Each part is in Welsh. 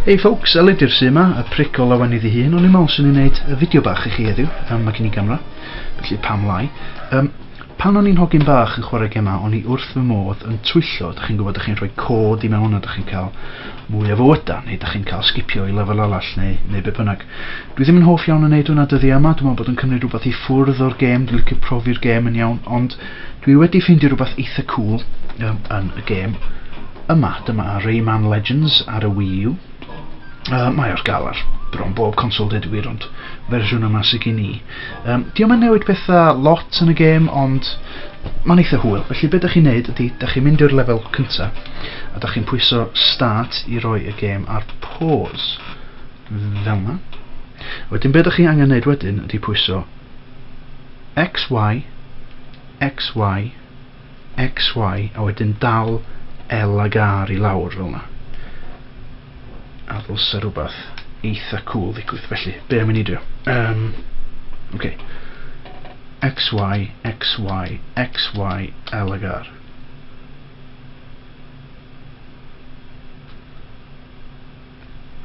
Hey folks, Elid ydy'r sy yma, y pric o lawen iddi hun, ond i'n meddwl sy'n ei wneud y fideo bach i chi heddiw, um, mae gen i gamera, felly pam lai. Um, Pan o'n i'n hogyn bach yn chwarae gemau o'n i wrth fy modd yn twyllo, dach chi'n gwybod, dach chi'n rhoi cod i mewn a dach chi'n cael mwy o fywydau, neu dach chi'n cael sgipio i lefel arall neu, neu be bynnag. Dwi ddim yn hoff iawn yn neud hwnna dyddiau yma, dwi'n meddwl bod yn cymryd rhywbeth i ffwrdd o'r gêm, dwi'n licio profi'r gêm yn iawn, ond dwi wedi ffeindio rhywbeth eitha cool um, yn y gêm yma. Dyma Rayman Legends ar y Wii U. Uh, mae o'r galar bron bob consol dweud y gwir, ond fersiwn yma sydd gen i. Yym, dio'm yn newid petha lot yn y gêm ond ma'n eitha hwyl, felly be' 'dach chi'n neud ydi 'dach chi'n mynd i'r lefel cynta a 'dach chi'n pwyso start i roi y gêm ar pause. Fel 'na. Wedyn be' 'dach chi angen neud wedyn ydi pwyso X Y X Y XY a wedyn dal L ag R i lawr fel 'na. A ddylse rhywbeth eitha cŵl ddigwydd, felly be' am i ni drio? Yym, oce. XY, XY, XY, L ag R.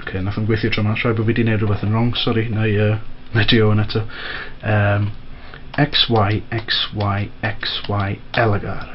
Ok, nath o'n gweithio tro ma, rhaid bod fi di neud rhywbeth yn wrong, sori, na i, uh, na i trio hwn eto. Um, X, Y, X, Y, X, Y, Elegar.